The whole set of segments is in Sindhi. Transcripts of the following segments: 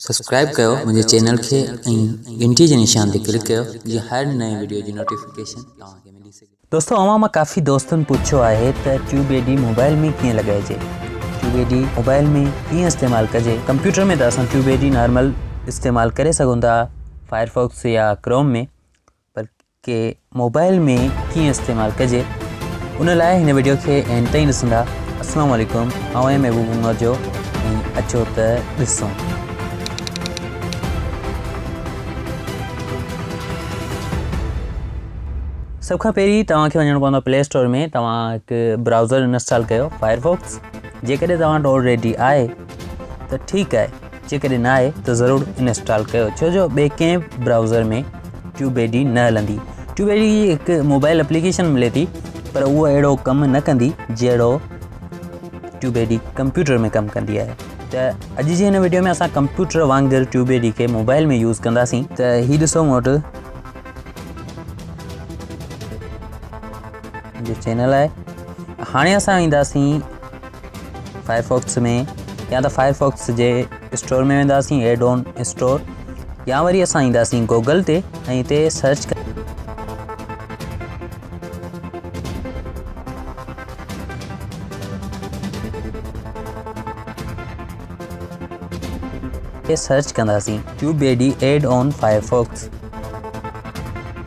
سبسڪرائب ڪيو منهنجي چينل کي ۽ گهنٽي جي نشان تي ڪلڪ ڪيو جيئن هر نئين وڊيو جي نوٽيفڪيشن توهان کي ملي سگهي. دوستو اوهان مان ڪافي دوستن پڇيو آهي ته ٽيوب اي ڊي موبائل ۾ ڪيئن لڳائجي ٽيوب اي ڊي موبائل ۾ ڪيئن استعمال ڪجي ڪمپيوٽر ۾ ته اسان ٽيوب اي ڊي نارمل استعمال ڪري سگهون ٿا فائر فوڪس يا ڪروم ۾ پر کي موبائل ۾ ڪيئن استعمال ڪجي ان لاء هن ويڊيو کي اين تائين ڏسندا السلام عليڪم آئون آهيان محبوب عمر جو ۽ اچو ته ڏسون سڀ کان پهرين توهان کي وڃڻو پوندو پلي اسٽور ۾ توهان هڪ براؤزر انسٽال ڪيو فائر فوڪس جيڪڏهن توهان وٽ آلريڊي آهي ته ٺيڪ آهي جيڪڏهن نه آهي ته ضرور انسٽال ڪيو ڇو جو ٻئي ڪنهن به برائوزر ۾ ٽيوب اي ڊي نه هلندي ٽيوب اي ڊي جي هڪ موبائل اپليڪيشن ملي ٿي پر اها اهڙو ڪم نه ڪندي جهڙو ٽيوب اي ڊي ڪمپيوٽر ۾ ڪم ڪندي آهي ته اڄ جي هن ويڊيو ۾ اسان ڪمپيوٽر وانگر ٽيوب اي ڊي کي موبائل ۾ يوز ڪنداسين ته هي ڏسو مون وٽ جو چينل آهي هاڻي اسان وينداسين فائرفوڪس ۾ يا ته فائرفوڪس جي اسٽور ۾ وينداسين ايڊ آن اسٽور يا وري اسان اينداسين گوگل تي ۽ اتي سرچ سرچ ڪنداسين tube B D add on Firefox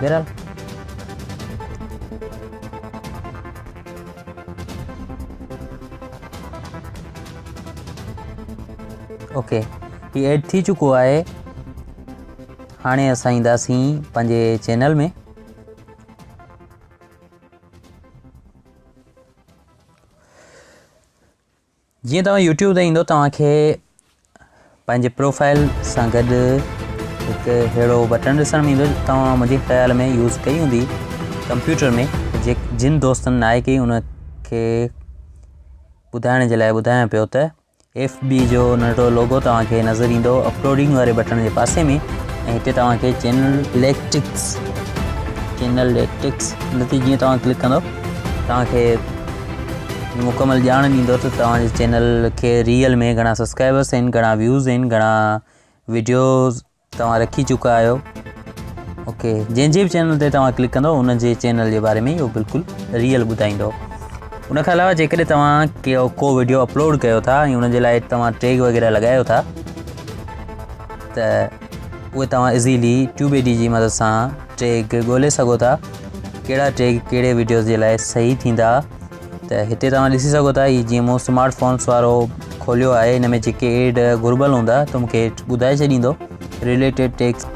بهرحال اوڪي هي ايڊ ٿي چڪو آهي هاڻي اسان اينداسين پنهنجي چينل ۾ جيئن توهان يوٽيوب تي ايندو توهان کي پنهنجي پروفائل سان گڏ هڪ اهڙو بٽن ڏسڻ ۾ ايندو توهان منهنجي خيال ۾ يوز ڪئي هوندي ڪمپيوٽر ۾ جي جن دوستن ناهي ڪئي ان کي ٻڌائڻ جي لاء ٻڌايان پيو ته ايف بي جو ننڍڙو لوگو توهان کي نظر ايندو اپلوڊنگ واري بٽن جي پاسي ۾ ۽ هتي توهان کي چينل ليڪٽڪس چينل ليڪٽڪس ان تي جيئن توهان ڪلڪ ڪندو توهان کي مڪمل ڄاڻ ڏيندو ته توهان جي چينل کي ريئل ۾ گهڻا سبسڪرائبرس آهن گهڻا ويوز آهن گهڻا ويڊيوز توهان رکي چڪا آهيو اوڪي جنهن جي به چينل تي توهان ڪلڪ ڪندو ان جي چينل جي باري ۾ اهو بلڪل ريئل ٻڌائيندو ان کان علاوه جيڪڏهن توهان ڪيو ڪو ويڊيو اپلوڊ ڪيو ٿا ۽ ان جي لاء توهان ٽيگ وغيره لڳايو ٿا ته اهي توهان ايزيلي ٽيوب اي ڊي جي مدد سان ٽيگ ڳولي سگهو ٿا ڪهڙا ٽيگ ڪهڙي ويڊيوز جي لاء صحيح ٿيندا ته هتي توهان ڏسي سگهو ٿا هي جيئن مون اسمارٽ فونس وارو کوليو آهي هن ۾ جيڪي ايڊ گهربل هوندا ته مونکي ٻڌائي ڇڏيندو ريليٽيڊ ٽيگس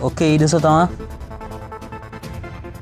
اوڪي هي ڏسو توهان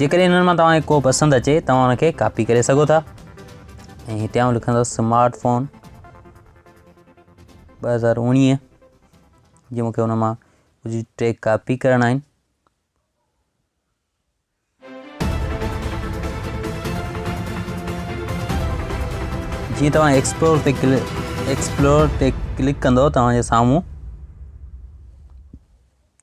جيڪڏهن انهن مان توهان کي ڪو پسند اچي توهان ان کي ڪاپي ڪري سگهو ٿا ۽ هتي آئون لکندو سمارٽ فون ٻه هزار اوڻيهه جي مونکي ان مان ڪجهه ٽيگ ڪاپي ڪرڻا آهن جي توهان ایڪسپلور تي ڪلڪ ایڪسپلور تي ڪلڪ ڪندو توهان جي سامهون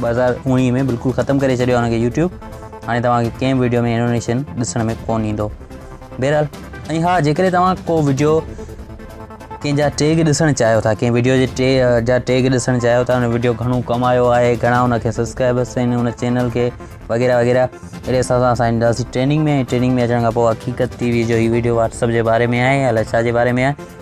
ٻه هزار اوڻيهه ۾ بلڪل ختم ڪري ڇڏيو هن کي يوٽيوب هاڻي توهان کي ڪنهن ويڊيو ۾ انونيشن ڏسڻ ۾ ڪون ايندو بهرحال ۽ ها جيڪڏهن توهان ڪو ويڊيو ڪنهن جا ٽيگ ڏسڻ چاهيو ٿا ڪنهن ويڊيو جي ٽي جا ٽيگ ڏسڻ چاهيو ٿا ان ويڊيو گهڻو ڪمايو آهي گهڻا ان کي سبسڪرائبرس آهن ان چينل کي وغيره وغيره اهڙي حساب سان اسان اينداسي ٽريننگ ۾ ٽريننگ ۾ اچڻ کان پوء حقيقت ٽي وي جو هي ويڊيو واتسپ جي باري ۾ آهي الاء ڇا جي باري ۾ آهي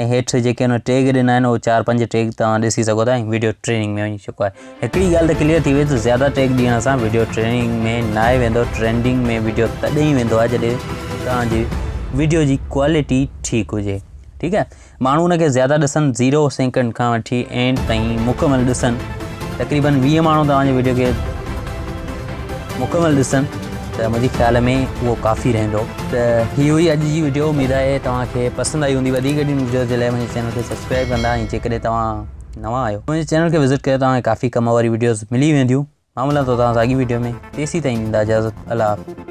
۽ هيٺ جيڪي ان ٽيگ ڏنا آهن اهو چار پنج ٽيگ توهان ڏسي سگهو ٿا ۽ ويڊيو ٽريننگ ۾ وڃي چڪو آهي هڪڙي ڳالهه ته ڪليئر ٿي وئي ته زياده ٽيگ ڏيڻ سان ويڊيو ٽريننگ ۾ ناهي ويندو ٽرينڊنگ ۾ ويڊيو تڏهن ئي ويندو آهي جڏهن توهان جي ويڊيو جي ڪوالٽي ٺيڪ هجي ٺيڪ آهي ماڻهو ان کي زياده ڏسن زيرو سيڪنڊ کان وٺي اينڊ تائين مڪمل ڏسن تقريبن ويهه ماڻهو توهان جي ويڊيو کي مڪمل ڏسن ته منهنجي خيال ۾ اهو ڪافي رهندو ته هي هئي اڄ جي ويڊيو اميد آهي توهان کي پسند آئي هوندي وڌيڪ اهڙين ويڊيوز جي لاء منهنجي چينل کي سبسڪرائب ڪندا ۽ جيڪڏهن توهان نوان آهيو منهنجي چينل کي وزٽ ڪيو توهان کي ڪافي ڪم واري ويڊيوز ملي وينديون مان ملان ٿو توهان سان اڳي ويڊيو ۾ تيسي تائين ڏيندا اجازت الله